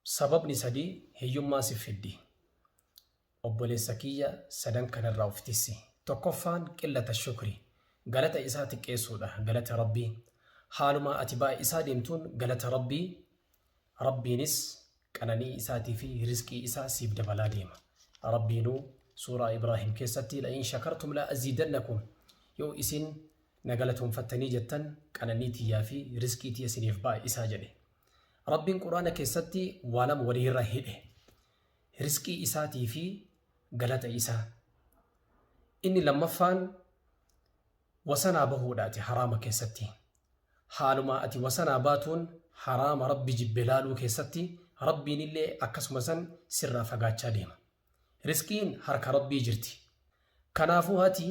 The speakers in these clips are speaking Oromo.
Sababni sadii hiyyummaa sif fiddi. Obboleessa kiyya sadan kanarraa of tissi. Tokkoffaan qillata shukri, galata isaa xiqqeessuudha, galata Rabbii. Haaluma ati baay'isaa deemtuun galata Rabbii, Rabbiinis qananii isaatii fi rizqii isaa siif dabalaa deema. Rabbiinuu suuraa Ibraahim keessatti la'in shakartum la'aziidannakum yoo isin na galatoomfattanii jettan qananii tiyyaa fi rizqii tiyya siniif baay'isaa jedhe. Rabbiin Qur'aana keessatti waa lama waliirra hidhe. Risqii isaatii fi galata isaa. Inni lammaffaan wasanaa bahuudhaati haraama keessatti. Haaluma ati wasanaa baatuun haraama rabbi jibbe laaluu keessatti rabbiin illee akkasuma san sirraa fagaachaa deema. Risqiin harka Rabbii jirti. Kanaafuu hati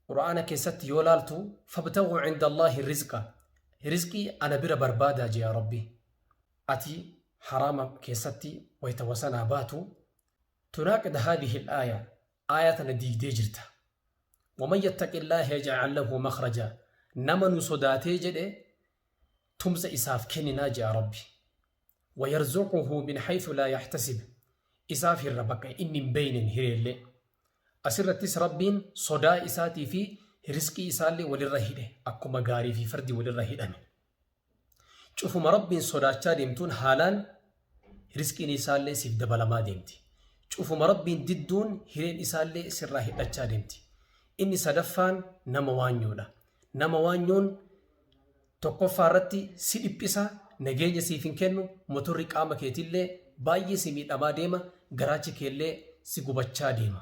Qur'aana keessatti yoo laaltu fabtagu cinda Allaahi rizqa rizqii ana bira barbaadaa jea Rabbi. Ati haraama keessatti wayta wasanaa baatu tunaaqid haadhihi aaya aaya tana diigdee jirta. Waman yattaqi Allaaha yajcal lahu makhraja nama nu sodaatee jedhe tumsa isaaf kenninaa je'a Rabbi. wayarzuquhu min haythu laa yahtasib isaaf hirra bakka inni hin beeynen hireellee. Asirrattis Rabbiin sodaa isaatii fi risqii isaallee walirra hidhe akkuma gaarii fi fardi walirra hidhame. Cufuma Rabbiin sodaachaa deemtuun haalaan Risqiin isaallee siif dabalamaa deemti. Cufuma Rabbiin didduun hireen isaallee sirraa hidhachaa deemti. Inni sadaffaan nama waanyoodha. Nama waanyoon tokkoffaa irratti si dhiphisa, nageenya siif hin kennu, motorri qaama keetillee baay'ee si miidhamaa deema, garaachi keellee si gubachaa deema.